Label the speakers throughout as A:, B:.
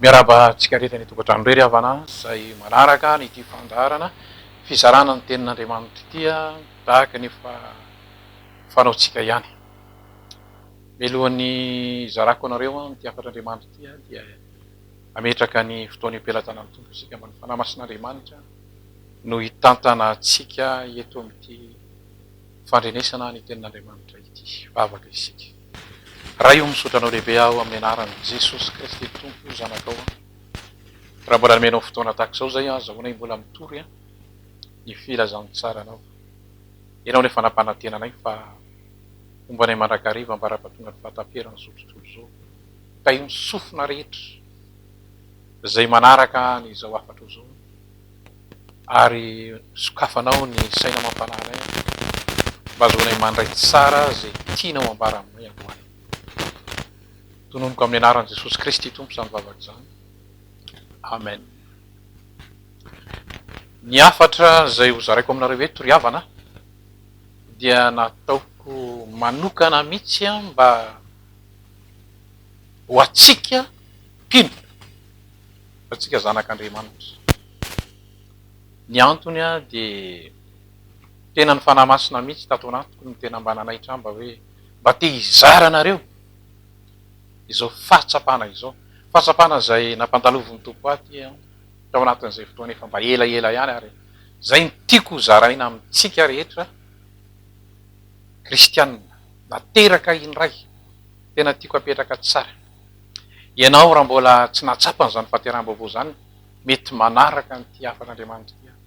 A: Miarahaba antsika rehetra any an-tokantrano irery havana izay manaraka an'ity fandaharana fizarana ny tenin'Andriamanitra ity tahaka ny efa fanaontsika ihany. Mialohan'ny hizarako anareo ity hafatr'Andriamanitra ity aho dia hametraka ny fotoana ipelatana ny Tompo isika mba ny Fanahy Masin'Andriamanitra no hitantana antsika eto amin'ity fandrenesana ny tenin'Andriamanitra ity. Vavaka isika. Ray o misaotra anao lehibe aho amin'ny anarany Jesosy Kristy Tompo o zanakao a raha mbola nomenao fotoana tahaka izao izay azahoana ahy mbola mitory a ny filazantsaranao ianao no efa nampanantena anay fa homba anay mandrakariva ambarapatonga ny fahataperan'izao tontolo izao ka io ny sofina rehetra izay manaraka an'izao hafatro izao ary sokafanao ny saina mampanahy anay aho mba ahazoanay mandray tsara izay tianao ambara aminay androany. Tonomiko amin'ny anaran'i Jesosy Kristy Tompo izany vavaka izany. Amen. Ny hafatra izay ho zaraiko aminareo eto ry havana dia nataoko manokana mihitsy mba ho antsika mpino. fa antsika zanak' Andriamanitra. Ny antony dia tena ny Fanahy Masina mihitsy tato anatiko no tena mba nanaitra ahy mba hoe mba te hizara anareo izao fahatsapana izao. Fahatsapana izay nampandalovin'ny Tompo ahy aty tao anatin'izay fotoana efa mba elaela ihany ary izay no tiako ho zaraina amintsika rehetra kristiana nateraka indray. Tena tiako apetraka tsara. Ianao raha mbola tsy nahatsapa an'izany fahateraham-baovao izany, mety manaraka an'ity hafan'Andriamanitra ity aho.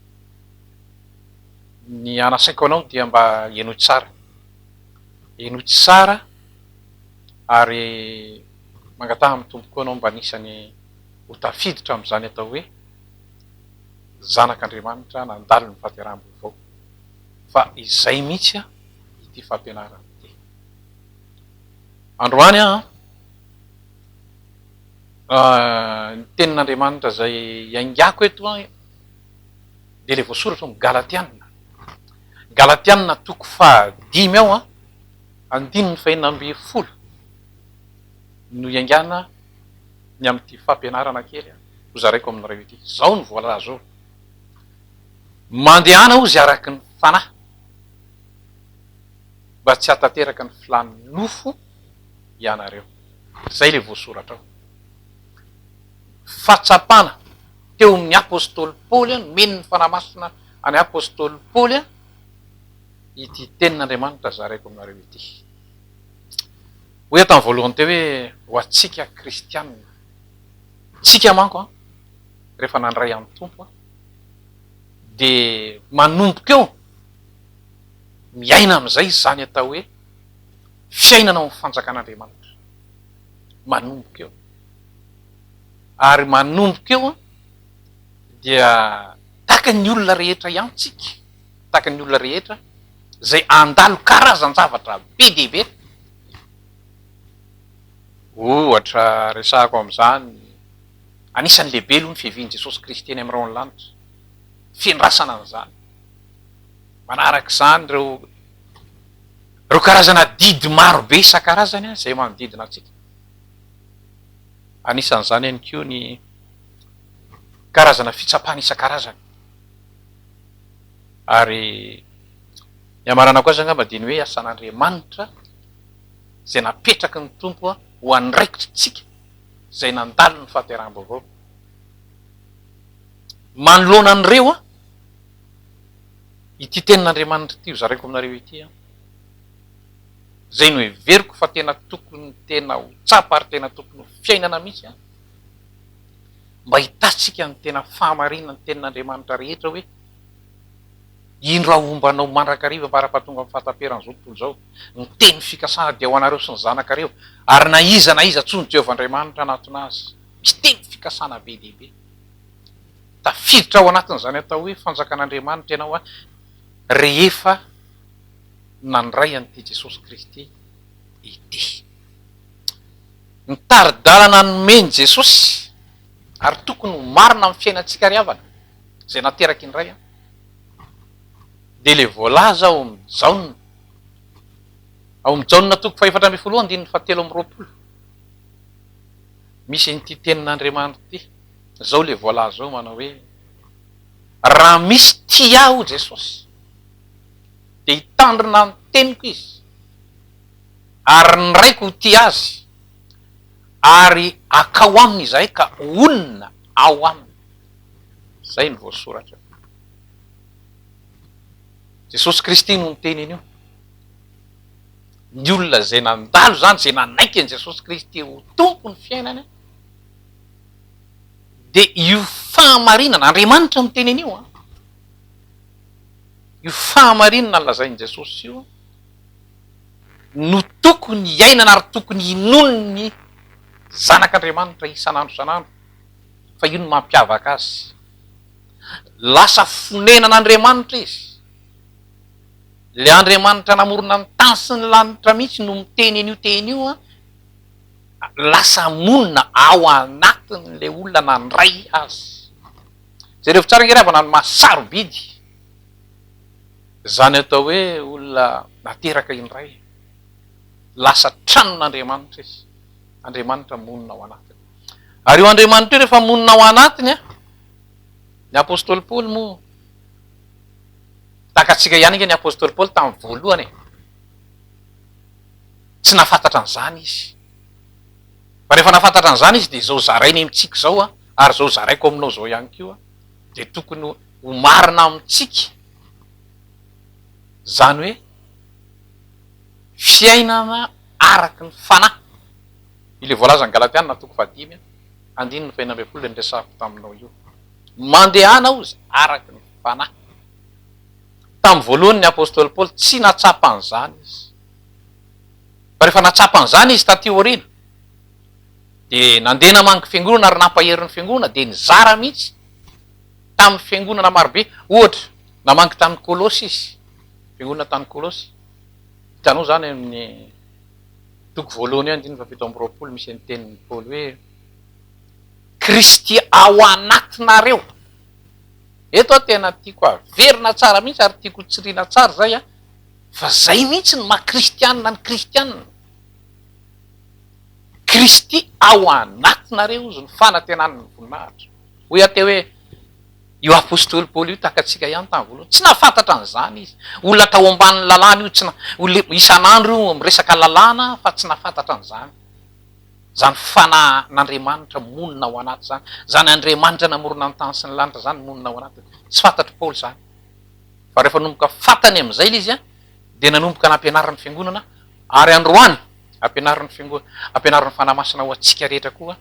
A: Ny anasaiko anao dia mba henoy tsara. Henoy tsara ary mangataha amin'ny Tompo koa ianao mba anisan'ny ho tafiditra amin'izany atao hoe zanak'Andriamanitra nandalo ny fahateraham-baovao. Fa izay mihitsy ity fampianarana ity. Androany aho an, ny tenin'Andriamanitra izay iaingako eto an, dia ilay voasoratra ao amin'ny Galatiana, Galatiana toko fahadimy ao an, andininy fahenina ambin'ny folo no iaingana ny amin'ity fampianarana kely hozaraiko aminareo ity. Izao no voalaza ao, Mandehana hozy araka ny fanahy. mba tsy hahatanteraka ny filàny nofo ianareo. Izay ilay voasoratra ao. Fahatsapana teo amin'ny apostoly Paoly, nomeny ny fanahy masina an'i apostoly Paoly ity tenin'Andriamanitra zaraiko aminareo ity. Hoy aho tamin'ny voalohany teo hoe ho antsika kristianina. Tsika manko rehefa nandray an'ny Tompo dia manomboka eo miaina amin'izay izany atao hoe fiainana ao amin'ny fanjakan'Andriamanitra. Manomboka eo. Ary manomboka eo dia tahaka ny olona rehetra ihany tsika, tahaka ny olona rehetra izay handalo karazan-javatra be dia be. Ohatra resahako amin'izany, anisan'ny lehibe aloha ny fiavian'i Jesosy Kristy eny amin'ny rahon'ny lanitra, fiandrasana an'izany. manaraka izany ireo ireo karazana didy maro be isan-karazany izay manodidina antsika. Anisan'izany ihany koa ny karazana fitsapana isan-karazany. Ary ny amaranako azy angamba dia ny hoe asan'Andriamanitra izay napetraky ny Tompo ho andraikitrintsika izay nandalo ny fahateraham-baovao. Manoloana an'ireo, ity tenin'Andriamanitra ity hozaraiko aminareo ity an, izay noheveriko fa tena tokony tena ho tsapa ary tena tokony ho fiainana mihitsy an, mba hitantsika ny tena fahamarinan'ny tenin'Andriamanitra rehetra hoe, indro aho homba anao mandrakariva farafahatonga amin'ny fahataperan'izao tontolo izao, ny teny fikasana dia ho anareo sy ny zanakareo, ary na iza na iza tsy ho ny Jehovah Andriamanitra hanatona azy, miteny fikasana be dia be. Tafiditra ao anatin'izany atao hoe fanjakan'Andriamanitra ianao rehefa nandray an'ity Jesosy Kristy ity. Ny tari-dalana nomen'i Jesosy ary tokony ho marina amin'ny fiainantsika ry havana izay nateraky indray an, dia ilay voalaza ao amin'ny Jaona, ao amin'ny Jaona toko fahefatra ambin'ny folo andininy fahatelo amby roapolo. Misy an'ity tenin'Andriamanitra ity, izao ilay voalaza izao manao hoe, raha misy tia ahy hoy Jesosy dia hitandrina ny teniko izy ary ny Raiko ho tia azy ary hakao aminy izahay ka honina ao aminy. Izay no voasoratra. Jesosy Kristy no niteny an'io. ny olona izay nandalo izany, izay nanaiky an'i Jesosy Kristy ho Tompon'ny fiainany, dia io fahamarinana, Andriamanitra miteny an'io an, io fahamarinana lazain'i Jesosy io no tokony hiainana ary tokony hinoan'ny zanak'Andriamanitra isan'andro isan'andro fa io no mampiavaka azy. Lasa fonenan'Andriamanitra izy. Ilay Andriamanitra namorona ny tany sy ny lanitra mihitsy no miteny an'io teny io an, lasa monina ao anatin'ilay olona nandray azy. Jerevo tsara ange ravana ny maha sarobidy izany atao hoe olona nateraka indray. Lasa tranon'Andriamanitra izy. Andriamanitra monina ao anatiny. Ary io Andriamanitra io rehefa monina ao anatiny an, ny apostoly Paoly moa, Takatsika ihany ange ny apostoly Paoly tamin'ny voalohany e! Tsy nahafantatra an'izany izy. Fa rehefa nahafantatra an'izany izy dia izao zarainy amintsika izao ary izao zaraiko aminao izao ihany koa dia tokony ho marina amintsika izany hoe fiainana araka ny fanahy. Ilay voalazan'ny Galatiana toko fahadimy andininy fahenina ambin'ny folo ilay niresahako taminao io. Mandehana hozy araka ny fanahy. fanahy. Tamin'ny voalohany ny apostoly Paoly tsy nahatsapa an'izany izy. Fa rehefa nahatsapa an'izany izy taty aoriana, dia nandeha namangy ny fiangonana ary nampahery ny fiangonana, dia nizara mihitsy tamin'ny fiangonana marobe. Ohatra, namangy tany Kolosy izy, fiangonana tany Kolosy. Hitanao izany amin'ny toko voalohany eo andininy fahafito amby roapolo, misy ny tenin'i Paoly hoe, Kristy ao anatinareo. Eto a tena tiako averina tsara mihitsy ary tiako hotsirina tsara izay a, fa izay mihitsy ny maha kristianina ny kristianina, Kristy ao anatinareo hozy ny fanantenan'ny voninahitra. Hoy aho teo hoe io apostoly Paoly io tahaka antsika ihany tamin'ny voalohany, tsy nahafantatra an'izany izy, olona tao ambanin'ny lalàna io, isan'andro io miresaka lalàna fa tsy nahafantatra an'izany. Izany Fanahy n'Andriamanitra monina ao anaty izany, izany Andriamanitra namorona ny tany sy ny lanitra izany monina ao anatiny. Tsy fantatr'i Paoly izany. Fa rehefa nanomboka fantany amin'izay ilay izy, dia nanomboka nampianariny ny Fiangonana, ary androany ampianariny ny Fiangonana, ampianariny ny Fanahy Masina ho antsika rehetra koa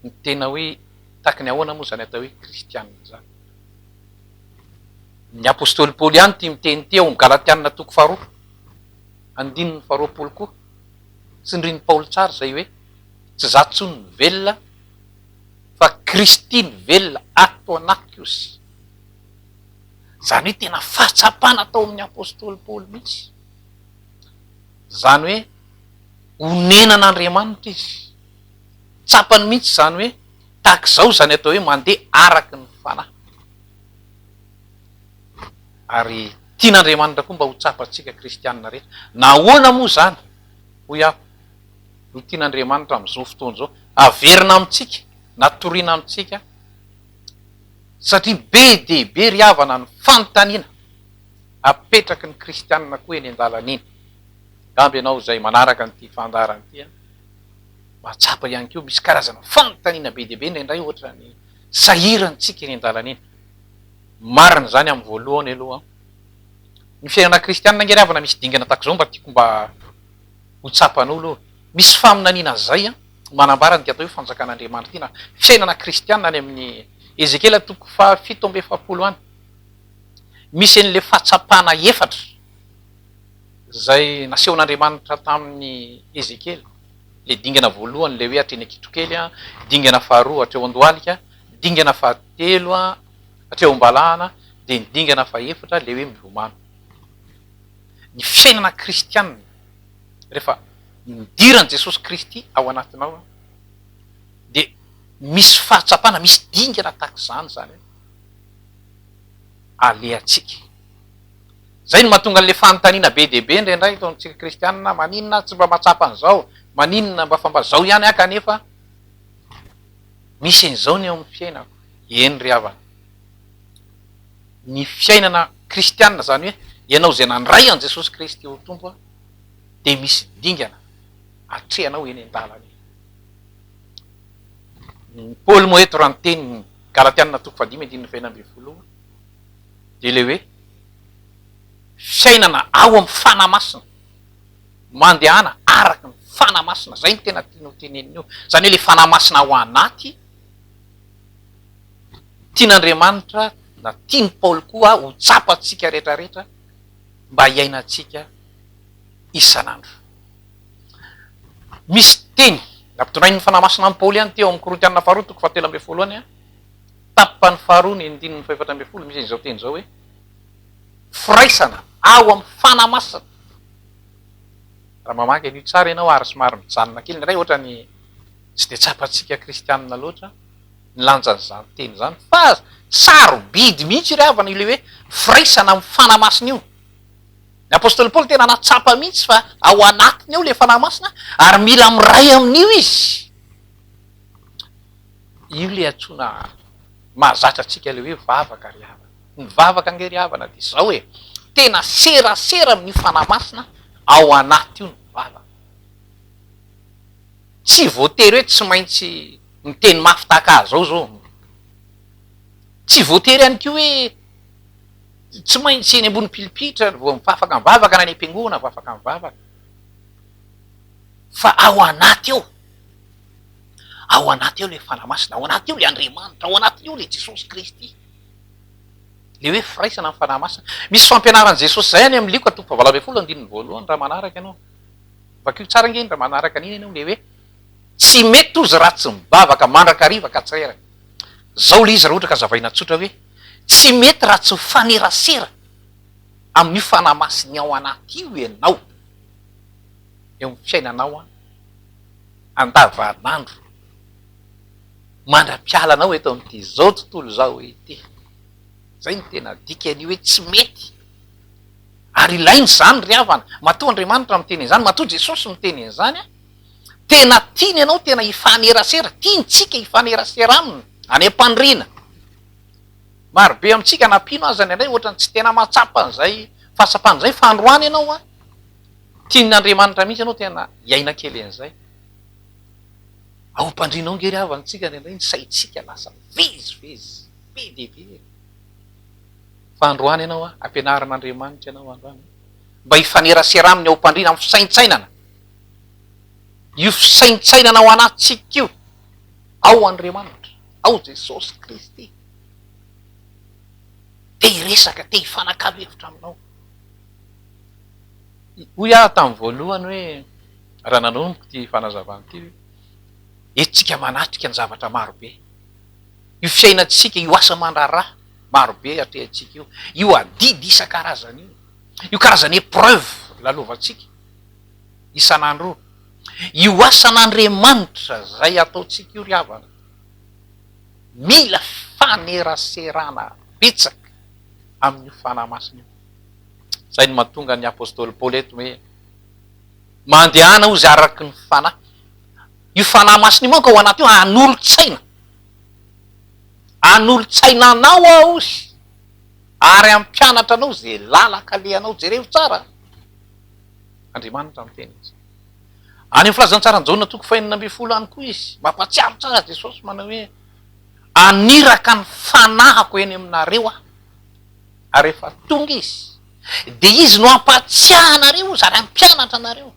A: ny tena hoe tahaky ny ahoana moa izany atao hoe kristiana izany. Ny apostoly Paoly ihany ity miteny ity ao amin'ny Galatiana toko faharoa, andininy faharoapolo koa, Tsindrin'i Paoly tsara izay hoe, tsy za tsony no velona fa Kristy no velona ato anatiko ozy. Izany hoe tena fahatsapana tao amin'ny apostoly Paoly mihitsy. Izany hoe onenan'Andriamanitra izy. Tsapany mihitsy izany hoe tahaka izao izany atao hoe mandeha araka ny fanahy. ary tian'Andriamanitra koa mba ho tsapantsika kristianina rehetra. Na ahoana moa izany, hoy aho, no tian'Andriamanitra amin'izao fotoana izao haverina amintsika na toriana amintsika, satria be dia be ry havana ny fanontaniana apetraky ny kristianina koa eny an-dalana eny. Angamba ianao izay manaraka an'ity fandaharana ity an, mahatsapa ihany koa misy karazana fanontaniana be dia be indraindray ohatran'ny sahirantsika eny an-dalana eny. Marina izany amin'ny voalohany aloha. Ny fiainana kristianina ange ry havana misy dingana tahaka izao mba tiako mba ho tsapan'olo ô. Misy faminaniana izay an, manambara an'ity atao hoe fanjakan'Andriamanitra ity na fiainana kristianina any amin'ny Ezekiela toko fahafito amby efapolo any. Misy an'ilay fahatsapana efatra izay nasehon'Andriamanitra tamin'i Ezekiela. Ilay dingana voalohany ilay hoe hatreny an-kitrokely, dingana faharoa hatreo an-dohalika, Ny dingana fahatelo hatreo am-balahana dia ny dingana fahefatra ilay hoe milomano. Ny fiainana kristianina rehefa nidiran'i Jesosy Kristy ao anatinao dia misy fahatsapana, misy dingana tahaka izany izany hoe alehantsika. Izay no mahatonga an'ilay fanontaniana be dia be indraindray eto amintsika kristianina, maninona aho tsy mba mahatsapa an'izao, maninona mba fa mba izao ihany aho kanefa Misy an'izao ny eo amin'ny fiainako. Eny ry havana. Ny fiainana kristianina, izany hoe ianao izay nandray an'i Jesosy Kristy ho Tompo, dia misy dingana atrehanao eny an-dalana eny. I Paoly moa eto raha niteny ny Galatiana toko fahadimy andininy fahenina ambin'ny folo io, dia ilay hoe fiainana ao amin'ny fanahy masina. mandehana araka ny fanahy masina, izay no tena tiany ho tenenina eo, izany hoe ilay fanahy masina ao anaty, tian'Andriamanitra na tian'i Paoly koa ho tsapantsika rehetra rehetra mba hiainantsika isan'andro. Misy teny nampitondrain'ny fanahy masina an'i Paoly ihany teo amin'ny Korintiana faharoa toko fahatelo ambin'ny folo any, tapany faharoa ny andininy fahefatra ambin'ny folo, misy izao teny izao hoe, firaisana ao am fanamasina raha mamaky an'io tsara ianao ary somary mijanona kely ny ray ohatra ny tsy dia tsapantsika kristianina loatra ny lanjan'izany teny izany fa sarobidy mihitsy ry havana ilay hoe firaisana am fanamasina io ny apostoly paoly tena natsapa mihitsy fa ao anatiny ao ilay fanahy masina ary mila miray amin'io izy io ilay antsoina mahazatra antsika ilay hoe vavaka ry havana Nivavaka ange ry havana dia izao e, tena serasera amin'io Fanahy Masina ao anaty io ny vavaka. Tsy voatery hoe tsy maintsy miteny mafy tahaka ahy izao izao. Tsy voatery ihany koa hoe tsy maintsy eny ambony pilipitra vao afaka mivavaka na any am-piangonana vao afaka mivavaka. Fa ao anaty ao, ao anaty ao ilay Fanahy Masina, ao anaty ao ilay Andriamanitra, ao anaty ao ilay Jesosy Kristy. Ilay hoe firaisana amin'ny Fanahy Masina. Misy fampianaran'i Jesosy izay any amin'ny Lioka toko fahavalo ambin'ny folo andininy voalohany raha manaraka ianao. Vakio tsara ange iny raha manaraka an'iny ianao ilay hoe tsy mety ozy raha tsy mivavaka mandrakariva ka tsy reraka. Izao ilay izy raha ohatra ka zavaina tsotra hoe tsy mety raha tsy mifanerasera amin'io Fanahy Masiny ao anaty io ianao eo amin'ny fiainanao andavanandro. mandra-piala anao eto amin'ity izao tontolo izao ity. Izay no tena dikan'io hoe tsy mety. Ary ilaina izany ry havana. Matoa Andriamanitra miteny an'izany, matoa Jesosy miteny an'izany, tena tiany ianao tena hifanerasera, tiantsika hifanerasera aminy, any am-pandriana. Marobe amintsika na mpino aza ny indray ohatran'ny tsy tena mahatsapa an'izay fahatsapana izay fa androany ianao tian'Andriamanitra mihitsy ianao tena hiaina kely an'izay. Aompandrianao nge ry havana tsika indraindray ny saintsika lasa mivezivezy be dia be e! Fa androany ianao a, ampianarin'Andriamanitra ianao androany a, mba hifanerasera aminy aompandriana amin'ny fisaintsainana. Io fisaintsainana ao anatintsika io, ao Andriamanitra, ao Jesosy Kristy. Te hiresaka, te hifanakalo hevitra aminao. Hoy aho tamin'ny voalohany hoe, raha nanomboka ity fanazavana ity hoe, entintsika manatrika ny zavatra maro be. Io fiainantsika, io asa aman-draharaha maro be atrehantsika io, io adidy isan-karazany io, io karazana épreuve lalovantsika isan'andro io, io asan'Andriamanitra izay ataontsika io ry havana, mila faneraserana betsaka amin'io fanahy masina io. Izay no mahatonga ny apostoly Paoly eto hoe, Mandehana hozy araka ny Fanahy. Io Fanahy Masina io manko ao anaty io hanolo-tsaina. Hanolo-tsaina anao aho hozy ary hampianatra anao izay lalaka alehanao. Jerevo tsara. Andriamanitra miteny izy. Any amin'ny filazantsaran'i Jaona toko fahenina ambin'ny folo any koa izy. Mampahatsiaro tsara Jesosy manao hoe, Aniraka ny fanahiko eny aminareo aho. Ary rehefa tonga izy, dia izy no hampahatsiahanareo izy ary hampianatra anareo,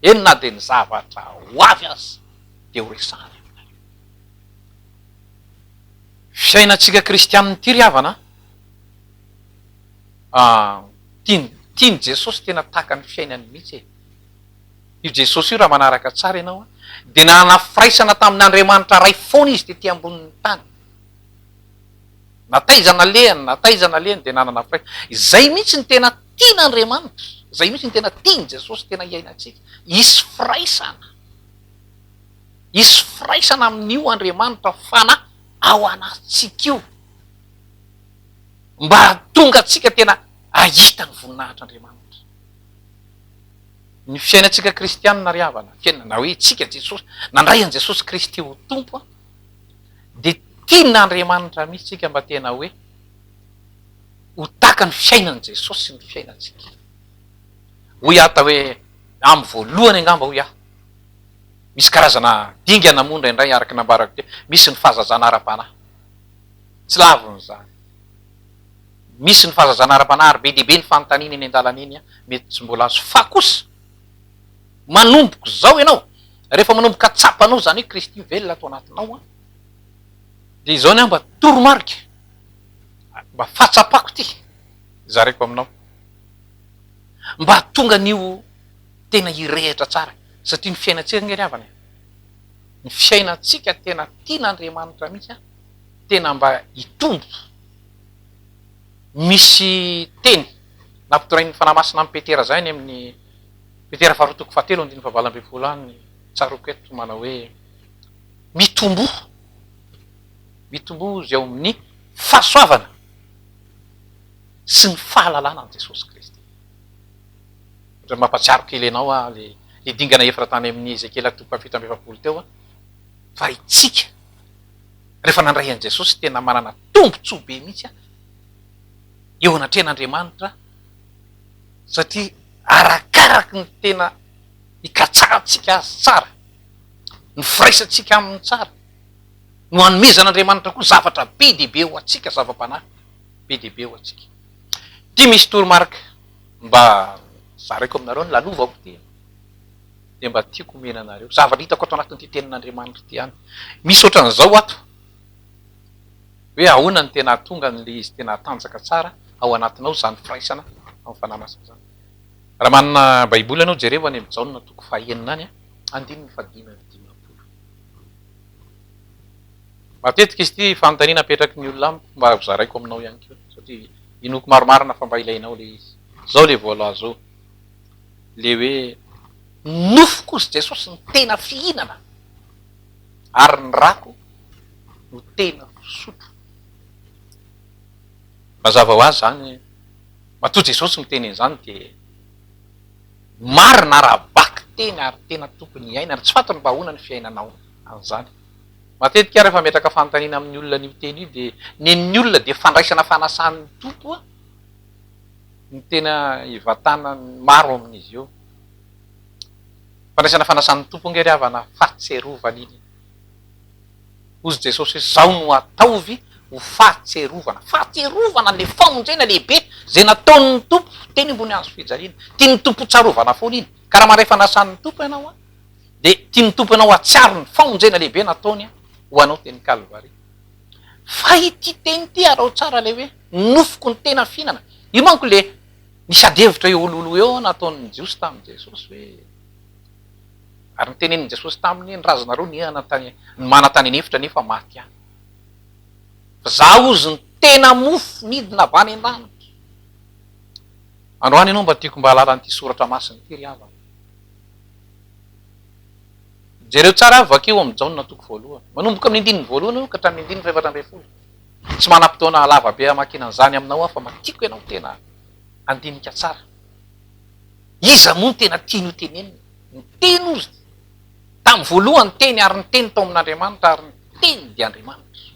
A: eny na dia ny zavatra ho avy aza, dia ho resahany aminareo. Fiainantsika kristianina ity ry havana an! Tian'i Jesosy tena tahaka ny fiainany mihitsy e! Io Jesosy io raha manaraka tsara ianao an, dia nanana firaisana tamin'Andriamanitra Ray foana izy tety ambonin'ny tany. Na taiza nalehany, na taiza nalehany dia nanana firaisana. Izay mihitsy no tena tian'Andriamanitra, izay mihitsy no tena tian'i Jesosy tena hiainantsika. Hisy firaisana. Hisy firaisana amin'io Andriamanitra Fanahy ao anatintsika io, mba hahatonga antsika tena hahita ny voninahitr'Andriamanitra. Ny fiainantsika kristianina ry havana, fiainana, na hoe isika Jesosy, nandray an'i Jesosy Kristy ho Tompo, dia tian'Andriamanitra mihitsy tsika mba tena hoe ho tahaka ny fiainan'i Jesosy ny fiainantsika. Hoy aho tao hoe, amin'ny voalohany angamba hoy aho, misy karazana dingana moa indraindray araka ny nambarako teo, misy ny fahazazana ara-panahy. Tsy lavin'izany. Misy ny fahazazana ara-panahy ary be dia be ny fanontaniana eny an-dalana eny mety tsy mbola azo. Fa kosa. Manomboka izao ianao, rehefa manomboka tsapanao izany hoe Kristy velona ato anatinao an, dia izao ny ahy mba toromarika, mba fahatsapako ity zaraiko aminao, mba hahatonga an'io tena hirehitra tsara, satria ny fiainantsika ange ry havana e, ny fiainantsika tena tian'Andriamanitra mihitsy an, tena mba hitombo, misy teny nampitorain'ny Fanahy Masina an'i Petera izay any amin'ny. Petera faharoa toko fahatelo andininy fahavalo ambin'ny folo any ny tsaroako eto manao hoe mitomboa mitomboa izay ao amin'ny fahasoavana sy ny fahalalana an'i Jesosy Kristy. Ohatra ny mampatsiaro kely anao aho le le dingana efatra tany amin'ny Ezekiela toko fahafito amby efapolo teo fa itsika rehefa nandray an'i Jesosy tena manana tombotsoa be mihitsy eo anatrehan'Andriamanitra satria arakaraky ny tena ikatsahantsika azy tsara, ny firaisantsika aminy tsara no anomezan'Andriamanitra koa zavatra be dia be ho antsika, zava-panahy be dia be ho antsika. Ity misy toromarika mba zaraiko aminareo ny lalovako ity dia mba tiako omena anareo zavatra hitako ato anatin'ity tenin'Andriamanitra ity ihany. Misy ohatran'izao ato. hoe ahoana no tena hahatonga an'ilay izy tena hatanjaka tsara ao anatinao izany firaisana amin'ny fanahy masina izany. Raha manana Baiboly ianao, jereo any amin'ny Jaona toko fahenina any, andininy fahadimy amby dimampolo. Matetika izy ity fanontaniana apetraky ny olona amiko mba hozaraiko aminao ihany koa, satria inoako marimarina fa mba ilainao ilay izy. Izao ilay voalaza ao, ilay hoe, Ny nofoko, hozy Jesosy, no tena fihinana. ary ny rako no tena fisotro. Mazava ho azy izany, matoa Jesosy miteny an'izany dia marina raha vaky teny ary tena tokony hiainana, tsy fantatro mba ahoana ny fiainanao an'izany. Matetika aho rehefa metraka fanontaniana amin'ny olona an'io teny io dia nen'ny olona dia fandraisana fanasan'ny Tompo aho no tena ivantanan'ny maro amin'izy io. Fandraisana fanasan'ny Tompo ange ry havana fahatserovana iny e! Hozy Jesosy hoe zao no ataovy ho fahatserovana, fahatserovana le famonjena lehibe zay nataon'ny Tompo teny ambony hazo fijaliana. Tian'ny Tompo hotsarovana foana iny. Ka raha mandray fanasan'ny Tompo ianao an, de tian'ny Tompo anao hahatsiaro ny famonjena lehibe nataony an ho anao teny Kalvary. Fa ity teny ity araho tsara le hoe nofiko ny tena fihinana. Io manko le Nisy adihevitra eo oloholo eo aho nataon'ny Jiosy tamin'i Jesosy hoe, ary notenenin'i Jesosy taminy hoe, ny razanareo nihana tany, ny mana tany an'efitra nefa maty any. Fa za ozy ny tena mofo nidina avy any an-danitra. Androany ianao mba tiako mba hahalala an'ity soratra masina ity ry havana. Jereo tsara ary vakio ao amin'ny Jaona toko voalohany. Manomboka amin'ny andininy voalohany aloha ka hatramin'ny andininy fahefatra ambin'ny folo. Tsy manam-potoana lava be hamakiana an'izany aminao aho fa mba tiako ianao tena handinika tsara. Iza moa no tena tiany ho tenenina? Ny Teny hozy dia tamin'ny voalohany ny Teny ary ny Teny tao amin'Andriamanitra ary ny Teny dia Andriamanitra.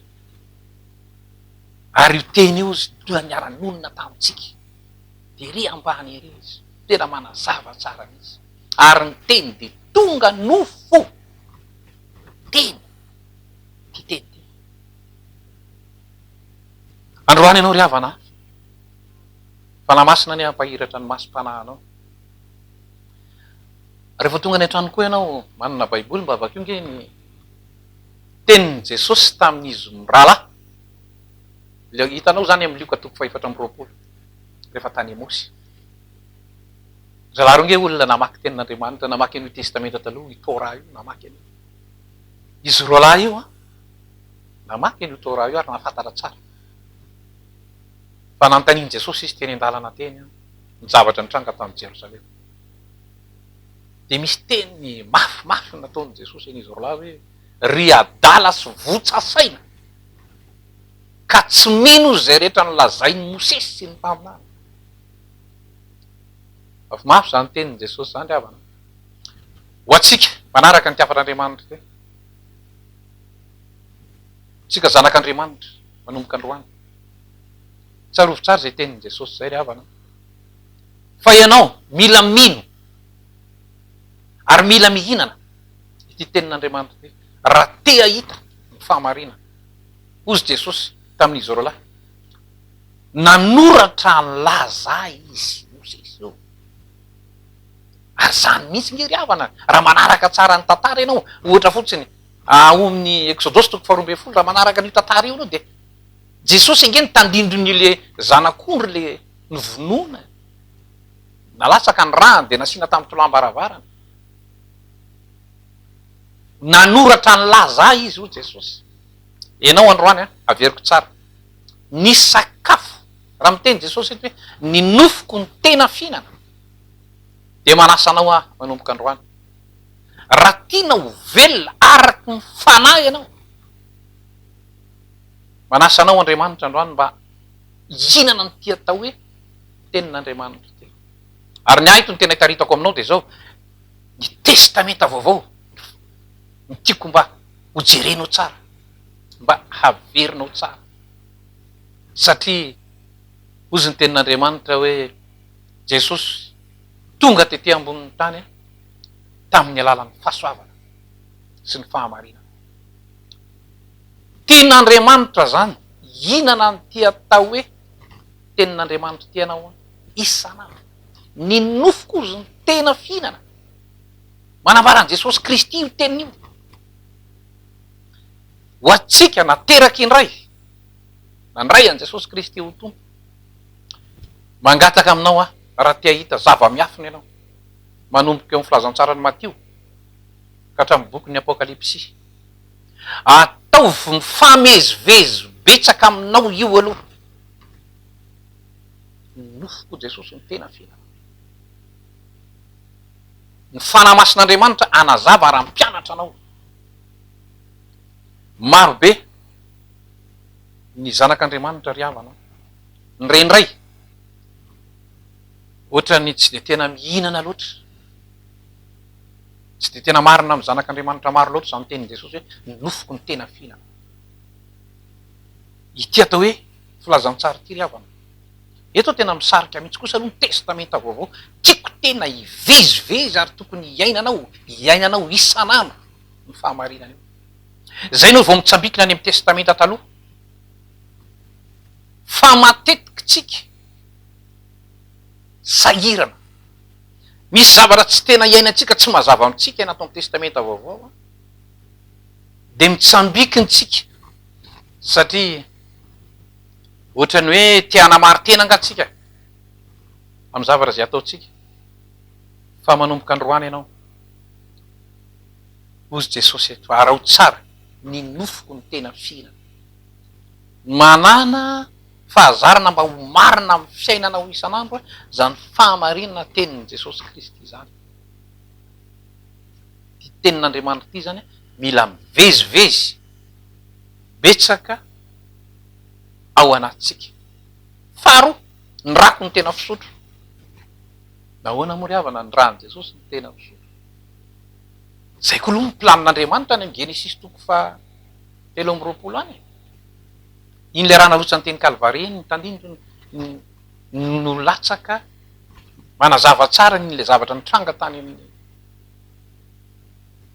A: Ary io Teny io hozy dia niara-nonina tamintsika dia ery ambany ery Izy, tena manazava tsara mihitsy. Ary ny Teny dia tonga nofo. Teny. Ity Teny ity. Androany ianao ry havana ahy, Fanahy Masina anie hampahiratra ny masom-panahinao. Rehefa tonga any an-trano koa ianao, manana Baiboly mba vakio ange ny tenin'i Jesosy tamin'izy mirahalahy. Ilay hitanao izany amin'ny Lioka toko fahefatra amby roapolo, rehefa tany Emosy. Zalahy ireo ange olona namaky tenin'Andriamanitra, namaky an'io Testamenta Taloha, io Torah io, namaky an'io. Izy roalahy io an! Namaky an'io Torah io ary nahafantatra tsara fa nanontanian'i Jesosy izy teny an-dalana teny ny zavatra nitranga tany Jerosalema. Dia misy teny mafimafy nataon'i Jesosy an'izy roalahy hoe, Ry adala sy votsa saina, ka tsy mino izay rehetra nolazain'i Mosesy sy ny mpaminany. Mafimafy izany tenin'i Jesosy izany ry havana. Ho antsika mpanaraka ny hafatr'Andriamanitra, Isika zanak' Andriamanitra, manomboka androany. Tsarovy tsara izay tenin'i Jesosy izay ry havana an! Fa ianao mila mino ary mila mihinana ity tenin' Andriamanitra ity raha te hahita ny fahamarinana. Hozy Jesosy tamin'izy roalahy, Nanoratra an'Laza Izy, hozy izy ireo. Ary izany mihitsy nge ry havana raha manaraka tsara ny tantara ianao, ohatra fotsiny ao amin'ny Exodosy toko faharoa ambin'ny folo, raha manaraka an'io tantara io ianao dia Jesosy ange no tandindon'ny le zanak'ondry le novonoina, nalatsaka ny ràny dia nasiana tamin'ny tolàm-baravarana. Nanoratra ny laza ahy izy hoy Jesosy. Ianao androany an, averiko tsara, nisy sakafo. Raha miteny Jesosy eto hoe ny nofoko no tena fihinana dia manasa anao aho manomboka androany. Raha tiana ho velona araka ny fanahy ianao, manasa anao Andriamanitra androany mba hihinana an'ity atao hoe tenin'Andriamanitra ity. Ary ny ahy eto ny tena ikaritako aminao dia izao, ny testamenta vaovao no tiako mba hojerenao tsara, mba haverinao tsara. Satria hozy ny tenin'Andriamanitra hoe, Jesosy tonga tety ambonin'ny tany tamin'ny alalan'ny fahasoavana sy ny fahamarinana. Tian'Andriamanitra izany. Inona no tia atao hoe tenin'Andriamanitra ity ianao an? Isan'andro. Ny nofoko hozy no tena fihinana. Manambara an'i Jesosy Kristy io teniny io. Ho antsika nateraky indray Nandray an'i Jesosy Kristy ho Tompo. Mangataka aminao aho raha te hahita zava-miafina ianao, manomboka eo amin'ny filazantsaran'i Matio ka hatramin'ny bokin'ny Apokalypsy. Ataovy mifamezivezy betsaka aminao io aloha. Ny nofoko Jesosy no tena fiainana. Ny Fanahy Masin'Andriamanitra hanazava ary hampianatra anao. Marobe. Ny zanak' Andriamanitra ry havana an! Ny re indray ohatran'ny tsy dia tena mihinana loatra. Tsy dia tena marina amin'ny zanak' Andriamanitra maro loatra izany tenin'i Jesosy hoe ny nofoko no tena fihinana. Ity atao hoe filazantsara ity ry havana. Eto tena misarika mihitsy kosa aloha ny Testamenta Vaovao. Tiako tena hivezivezy ary tokony hiainanao, iainanao isan'andro io fahamarinana io. Izay no vao mitsambikina any amin'ny Testamenta Taloha. Fa matetika isika sahirana. Misy zavatra tsy tena iainantsika, tsy mazava amintsika ny ato amin'ny Testamenta Vaovao, dia mitsambikina isika satria ohatran'ny hoe te hanamari-tena angaha isika amin'ny zavatra izay ataontsika. Fa manomboka androany ianao. Hozy Jesosy eto, araho tsara ny nofoko ny tena fihina. Manana fahazarana mba ho marina amin'ny fiainanao isan'andro izany fahamarinana tenin'i Jesosy Kristy izany. Ity tenin'Andriamanitra ity izany mila mivezivezy betsaka ao anatintsika. Faharoa, ny rako no tena fisotro. Nahoana moa ry havana ny ràn'i Jesosy no tena fisotro? Zay ko aloha ny planina Andriamanitra any amin'ny Genesisy toko faha telo amby roapolo any e! Iny le raha narotsan'ny teny Kalvary iny ny tandindony no latsaka manazava tsara ny le zavatra nitranga tany amin'ny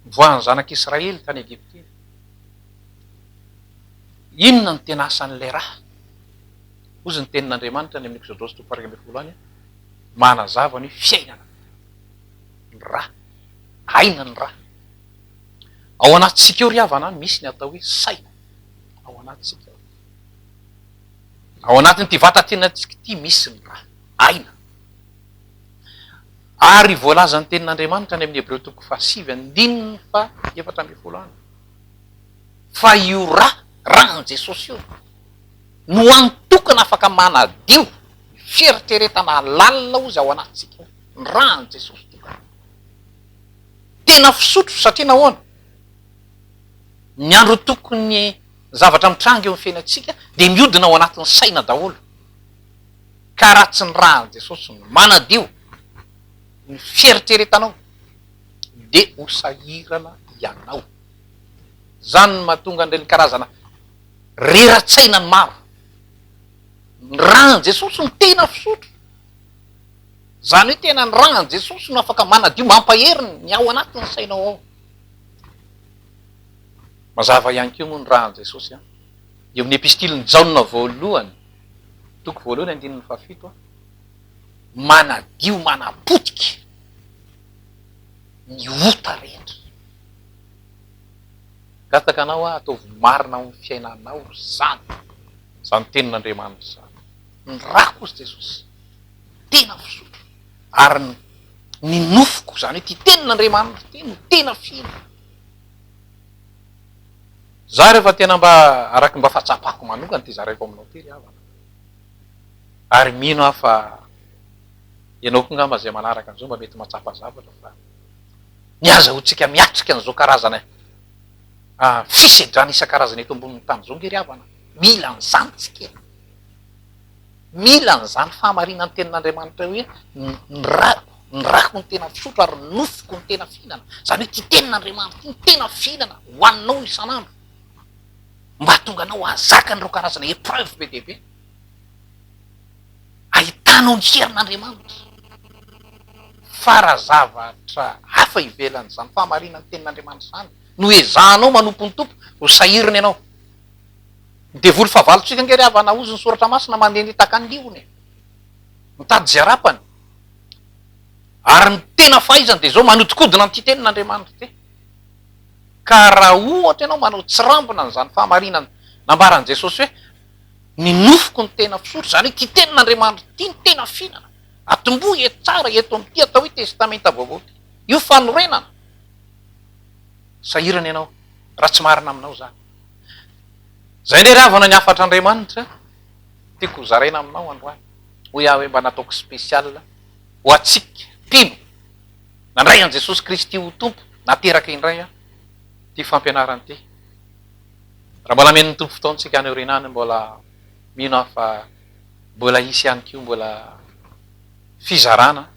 A: nivoahan'ny zanak'i Israely tany Egypta iny. Inona no tena asan'ilay rà? Hozy ny tenin'Andriamanitra any amin'ny Ekzodosy toko faha iraika ambin'ny folo any, manazava ny fiainana. ny ra, aina ny ra. Ao anatintsika ao ry havana an, misy ny atao hoe saina ao anatintsika ao. Ao anatin'ity vatantenantsika ity misy ny ra, aina. Ary voalazan'ny tenin'Andriamanitra any amin'ny Hebreo toko fahasivy andininy fahaefatra ambin'ny folo any fa io ra, ran'i Jesosy io no antokona afaka manadio ny fieritreretana lalina ozy ao anatintsika ao. ny ran'i Jesosy dia rano tena fisotro satria nahoana? ny andro tokony zavatra mitranga eo amin'ny fiainantsika dia miodina ao anatin'ny saina daholo ka raha tsy ny ran'i Jesosy no manadio ny fieritreretanao dia ho sahirana ianao izany no mahatonga an'ireny karazana rera-tsaina ny maro ny ran'i Jesosy no tena fisotro Izany hoe tena ny rangan'i Jesosy no afaka manadio mampahery ny ao anatin'ny sainao ao. Mazava ihany koa moa ny rangan'i Jesosy an! Eo amin'ny epistilin'i Jaona voalohany, toko voalohany andininy fahafito an! Manadio manapotika ny ota rehetra. Gataka anao aho, ataovy marina ao amin'ny fiainanao izany, izany tenin'Andriamanitra izany. ny rako hozy Jesosy tena fisotro ary ny ny nofoko zany hoe ty tenin' Andriamanitra ty no tena fihina za rehefa tena mba araky mba fatsapako manokana ty zaraiko aminao ty ry havana ary mino aho fa ianao koa ngamba zay manaraka an'izao mba mety matsapa zavatra fa ny azahoantsika miatrika an'izao karazana fisedrana isan-karazana eto ambonin'ny tany izao nge ry havana mila an'izany tsika Mila an'izany fahamarinan'ny tenin'Andriamanitra hoe ny rako, ny rako no tena fisotro ary ny nofoko no tena fihinana. Izany hoe ity tenin'Andriamanitra ity no tena fihinana hohaninao isan'andro mba hahatonga anao hahazaka an'ireo karazana épreuve be dia be. Ahitanao ny herin'Andriamanitra. Fa raha zavatra hafa ivelan'izany fahamarinan'ny tenin'Andriamanitra izany no ezahanao manompo ny Tompo, ho sahirana ianao. Ny devoly fahavalontsika ange ry havana hozy ny soratra masina mandeha nitaka ny liony e! Mitady izay arapany. Ary ny tena fahaizany dia izao manodikodina an'ity tenin' Andriamanitra ity. Ka raha ohatra ianao manao tsirambina an'izany fahamarinana nambaran'i Jesosy hoe ny nofoko no tena fisotro, izany hoe ity tenin' Andriamanitra ity no tena fihinana, atombohy eto tsara eto amin'ity atao hoe testamenta vaovao ity. Io fanorenana. Sahirana ianao raha tsy marina aminao izany. Izay indray ravana ny hafatr'Andriamanitra tiako ho zaraina aminao androany. Hoy aho hoe mba nataoko spécial ho antsika mpino nandray an'i Jesosy Kristy ho Tompo nateraka indray aho ity fampianarana ity. Raha mbola amen'ny Tompo fotoana isika any aoriana any mbola mino aho fa mbola hisy ihany koa mbola fizarana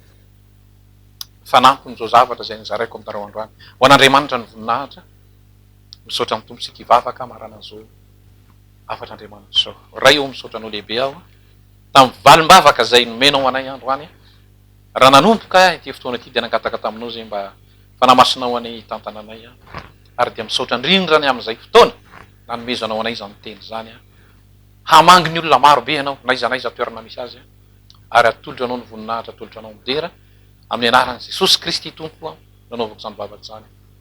A: fanampin'izao zavatra izay nizaraiko aminareo androany. Ho an'Andriamanitra ny voninahitra. Misaotra amin'ny Tompo isika hivavaka hamarana an'izao hafatra Andriamanitra izao. Ray ô, misaotra Anao lehibe aho tamin'ny valim-bavaka izay nomenao anay androany. Raha nanomboka aho ity fotoana ity dia nangataka taminao izay mba Fanahy Masinao anie hitantana anay aho. Ary dia misaotra indrindra ny amin'izay fotoana nanomezanao anay izany Teny izany. Hamangy ny olona maro be Ianao n'aiza n'aiza toerana misy azy. Ary atolotro Anao ny voninahitra, atolotro Anao midera. Amin'ny Anaran'i Jesosy Kristy Tompo nanaovako izany vavaka izany.